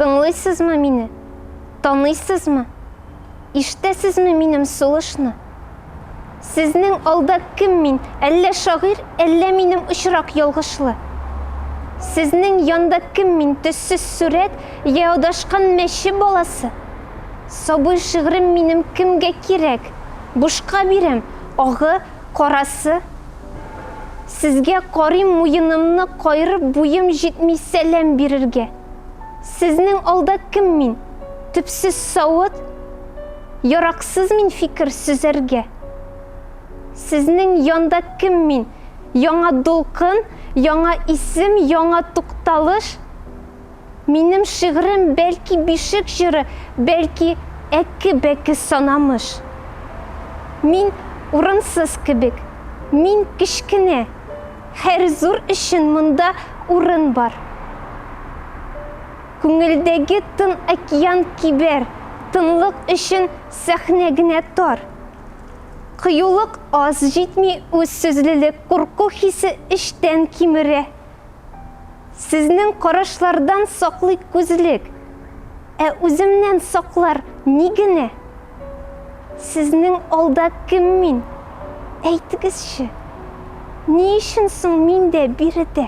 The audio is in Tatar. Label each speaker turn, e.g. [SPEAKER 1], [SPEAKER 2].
[SPEAKER 1] Тыңлыйсызмы мине? Таныйсызмы? Иштәсезме минем сулышны? Сезнең алда кем мин? Әллә шагыйр, әллә минем очрак ялгышлы? Сезнең янда кем мин? Төссез сурәт, я одашкан мәче баласы? Сабый шигырем минем кемгә кирәк? Бушка бирәм, агы Карасы, сезгә карыйм муенымны кайрып буем җитми сәлам бирергә. Сезнең алда кем мин, төпсез савыт, яраксыз мин фикер сөзәргә. Сезнең янда кем мин, яңа дулкын, яңа исем, яңа тукталыш. Минем шигырем бәлки бишек җыры, бәлки әкке-бәкке санамыш. Мин урынсыз кебек, мин кечкенә, һәр зур өчен монда урын бар. Күңелдәге тын океан кибәр, тынлык өчен сәхнә генә тар. Кыюлык аз, җитми үз сүзлелек, курку хисе эчтән кимерә, Сезнең карашлардан саклый күзлек, Ә үземнән саклар ни генә? Сезнең алда кем мин, әйтегезче, Ни өчен соң мин дә биредә?